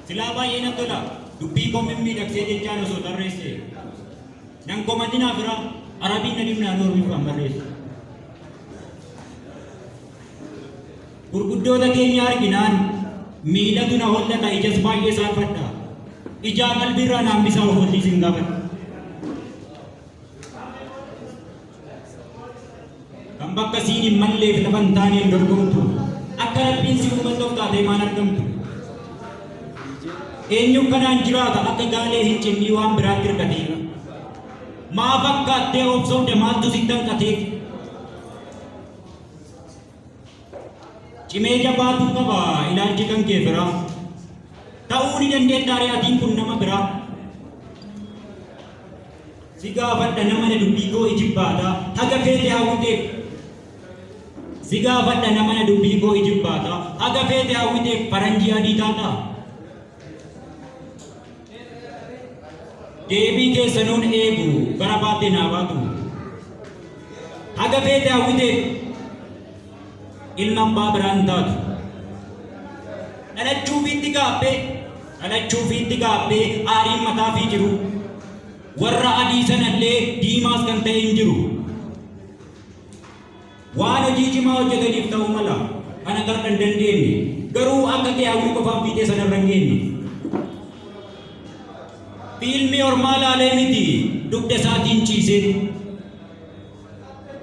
Silaa baay'ee nan tola dubbii koo mimmiidhagsee jechaan osoo tarreesse. Nan komadinaa fira arabiin na dhibnaa noormi kan barreessu. Gurguddoota keenya arginaan miilatu na hollata ijas baay'ee saarfadha. Ijaa qalbiirraa naan bisaa ofollii sin gaafadha. kan bakka siin hin malleef lafa hin taaneen dorgomtu akka rabbiin si uuman dhokkaatee maan argamtu eenyu kanaan jiraata akka gaalee hin cinnii waan biraatti hirkatee maa fakkaattee obsoomte maaltu si tanqatee Cimee jabaatu qaba ilaalchi kan kee biraa. Ta'uu ni dandeettaa re'atiin kun nama biraa. Si gaafadha nama na dubbii koo ijibbaata. Haga feete hawwiteef. Si gaafadha nama na dubbii koo ijibbaata. Haga feete hawwiteef faranjii adii taataa. deebii keessanuun eegu bara baattee naa baatu haga feete hawwiteef ilma abbaa biraan taatu dhalachuu fiitti gaabbee dhalachuu fiitti gaabbee aariin mataa fi jiru warra adii sanallee diimaas kan ta'e hin jiru. Waan hojii cimaa hojjetaniif ta'uu mala kan akka har'a hin dandeenye, garuu akka kee hawwii qofaan fiixee sana irra hin geenye. Fiilmii ormaa laalee miti dugda isaatiin ciiseeti.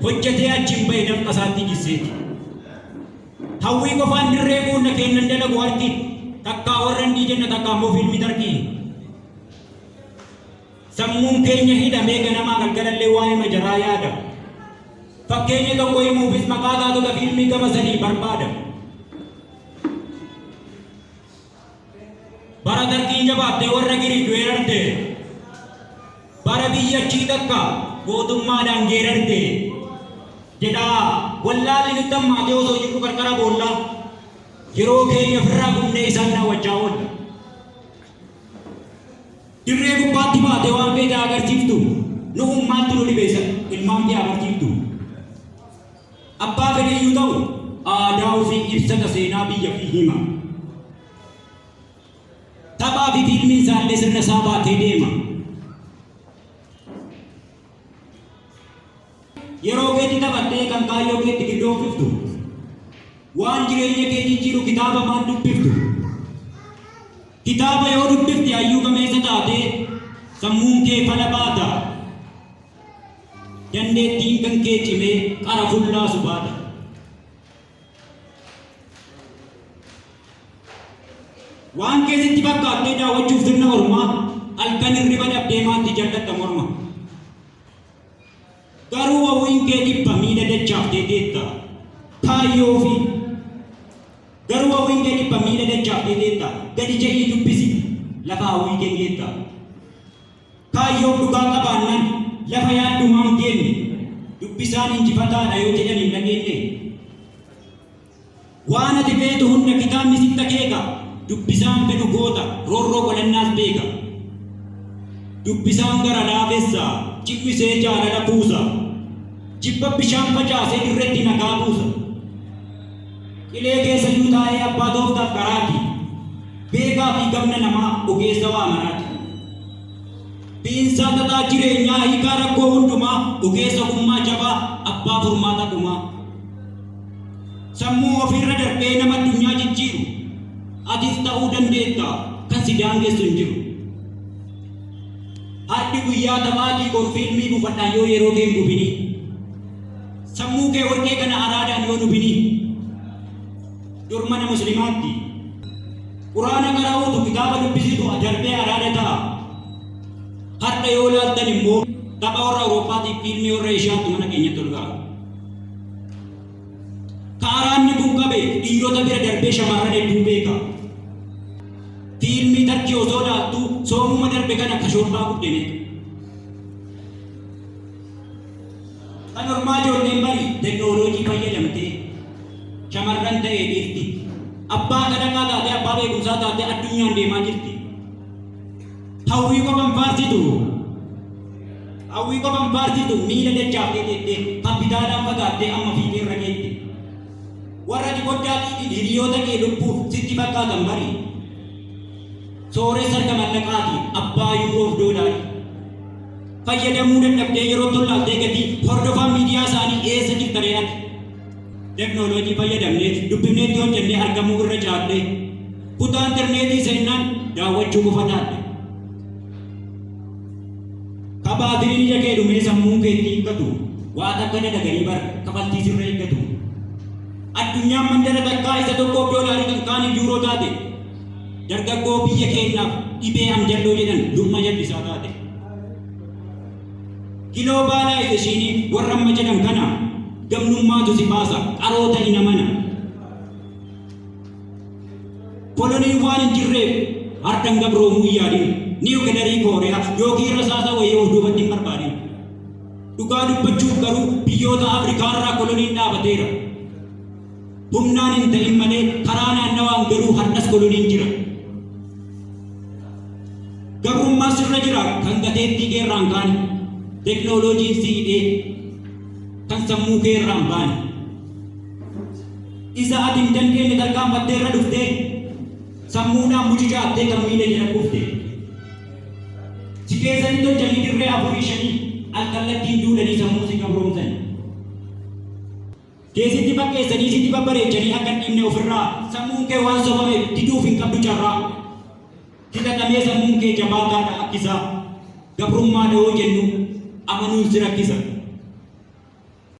Hojjetee achiin ba'e danqa isaatti jisseeti. Hawwii qofaan dirree guunna keennan dalagu harki takkaa warra hindii jenna takkaa immoo fiilmii tarkii. Sammuun keenya hidhamee ganamaa galgalallee waa'eema jaraa yaada. Fakkeenya tokko himuufis maqaa taatota fiilmii gama sadii barbaada. Bara Dargiin jabaattee warra Giriik weerarte. Bara biyyattii takka gootummaadhaan geerarte. Jedhaa wallaalli nutti hammaatee osoo jirru qarqara boollaa yeroo keenya ofirraa gubnee isaan daawwachaa oolla. Dirree gubbaatti baatee waan feete haa agarsiiftu. Nu'u maaltu nu dhibe isa ilmaan kee haa barsiiftu. Abbaa fedheyyuu ta'u aadaa ofii ibsata seenaa biyya fi hima. Taphaa fi fiilmiin isaallee sirna isaa baatee deema. Yeroo keetti taphattee kan kaayyoo keetti giddoofiftu, waan jireenya kee jijjiiru kitaaba maal dubbiftu? Kitaaba yoo dubbifte hayyuu gameessa taatee sammuun kee fala baata. Dandeettiin kan kee cimee qara fullaasu baata. Waan keessatti fakkaattee daawwachuuf sirna ormaa halkan hirriba dhabdee maatti jal'atta morma. Garuu wawwiin kee dhibba miila dachaaftee teetta. Taayyoofi. Garuu wawwiin kee dhibba miila dachaaftee teetta. Gadi je'ii dubbisi. Lafa hawwii keen geetta. Kaayyoof dhugaa qabaannan lafa yaaddumaa hin geenne. Dubbisaan injifataadha yoo jedhan hin dhageenne. Waan ati feetu hunda kitaabni sitti akeeka, dubbisaan fedhu goota, roorroo godhannaas beeka. Dubbisaan gara laafessa, ci'misee jaalala kuusa, jibba bishaan facaasee dirreetti nagaa buusa. Qilee keessa iyyuu taa'ee abbaa tooftaaf qaraati, beekaa fi gamna namaa, ogeessa waa maraati. Biinsaa xaxaa jireenyaa, hiikaa rakkoo hundumaa, ogeessa ogummaa jabaa, abbaa furmaata dhumaa. Sammuu ofiirra darbee nama addunyaa jijjiiru atis ta'uu dandeetta kan si daangessu hin jiru. Har'i guyyaa taphaatii bor fiilmii bufadhaan yoo yeroo kee hin gubini. Sammuu kee warqee kana araadaan yoo nubini. Dur mana muslimaatti quraana qara'uutu kitaaba dubbisitu darbee araada ta'a. Har'a yoo laaltan immoo tapha warra Awurooppaatii fiilmii warra Eeshiyaatti mana keenyatti ol ga'a. Ka araanni kun qabe dhiirota bira darbee shamarran hedduu beeka. Fiilmii Tarkii osoo laaltu soomuma darbe kana ka shoorbaa guddine. Kan hormaa ijoolleen bari teknooloojii fayyadamtee shamarran ta'ee dhiirti. Abbaa kadhannaa taatee abbaa beekumsaa taatee addunyaan deemaa jirti. Hawwii qofan faarsitu. Hawwii qofan faarsitu miila dachaaftee teettee kappitaalaan fagaattee amma fiixee irra geette. Warra ati foddaa dhiitiin hiriyoota kee lubbuuf sitti fakkaatan bari. Sooressa harka mallaqaati abbaa yuuroof doolaarii. Fayyadamuu dadhabdee yeroo tollaaltee gatii hordofaan miidiyaa isaanii eessa jirta re'ati. Teknoloojii fayyadamnee dubbifneetti hojjennee argamuu irra caallee kutaa interneetii seennaan daawwachuu qofa taatte. Ka baatiriin ija kee dhumee sammuun kee itti hiikkatu waa takka dalaganii bar kafaltii sirra eeggatu. Addunyaan mandara takkaa isa tokkoof doolaarii kan kaaniif yuuroo taate dargaggoo biyya keenyaaf dhibee amjalloo jedhan dhumma jallisaa taate. Giloobaalaayizeeshiinii warra amma jedhan kana gamnummaatu si baasa, qaroo ta'i na mana. Koloniin waan hin jirreef har'an gabroomuu hin yaadin. Niwukilarii Kooriyaa yookiin rasaasa wayii of duubatti hin barbaadin. Dhugaa dubbachuuf garuu biyyoota Afrikaa irraa koloniin dhaabateera. Humnaan hin ta'in malee karaa naannawaan garuu har'as koloniin jira. Gabrummaa sirra jira kan gateettii keerraan kaane, teknooloojiin si hidhee kan sammuu keerraan baane. Isa ati hin dandeenye tarkaanfattee irra dhuftee sammuudhaan mucucaattee kan miila jala kufte. Si keessatti tolchanii dirree afurii shanii al kallattiin duudanii sammuu si gabroomsani. kee sitti fakkeessanii sitti babbareechanii akka hin dhiifne ofirraa sammuun kee waan sobameef diduuf hin qabdu carraa. Filatamee sammuun kee jabaataadha akkisaa gabrummaadha yoo jennu amanuun si rakkisa.